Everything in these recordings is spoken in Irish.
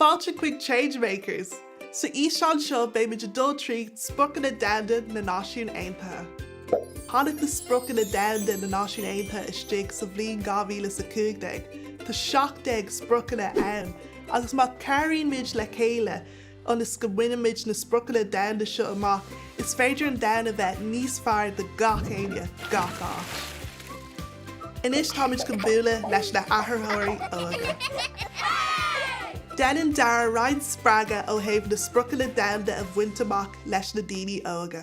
Fáilte chuig Change Makers! Sa fhíseán seo beidh muid ag dul trí Spriocanna Domhanda na Náisiún Aontaithe. Tháinig na Spriocanna Domhanda na Náisiún Aontaithe istigh sa bhliain 2015. Tá 17 Spriocanna ann agus má chabhraíonn muid le chéile, ionas go mbainimid na spriocanna domhanda seo amach, is féidir an domhan a bheith níos fearr do gach éinne, gach áit. Anois táimid chun bualadh leis na hathraitheoirí óga. Déanann Darragh roinnt spreagadh ó thaobh na spriocanna domhanda a bhaint amach leis na daoine óga.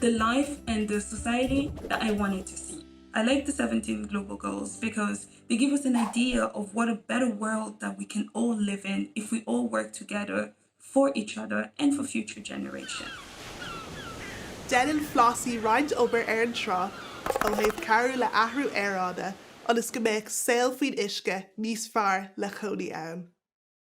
the life and the society that I wanted to see. I like the 17 global goals because they give us an idea of what a better world that we can all live in if we all work together for each other and for future generation. Déanann Flossie roinnt obair ar an trá ó thaobh cabhrú le athrú aeráide ionas go mbeadh saol faoin uisce níos fearr le chónaí ann.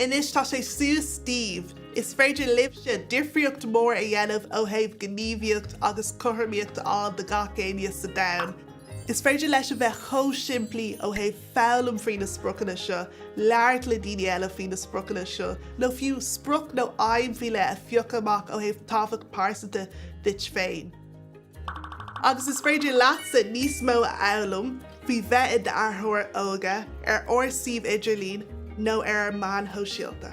Anois tá sé suas daoibh. Is féidir libhse difríocht mór a dhéanamh ó thaobh gníomhaíocht agus cothromaíocht a fháil do gach éinne sa domhan. Is féidir leis a bheith chomh simplí ó thaobh foghlaim faoi na spriocanna seo, labhairt le daoine eile faoi na spriocanna seo, nó fiú sprioc nó aidhm faoi leith a phiocadh amach ó thaobh tábhacht pearsanta duit féin. agus is féidir leatsa níos mó a fhoghlaim faoi bheith i d'athraitheoir óg ar ár suíomh idirlín nó ar ár meáin shóisialta.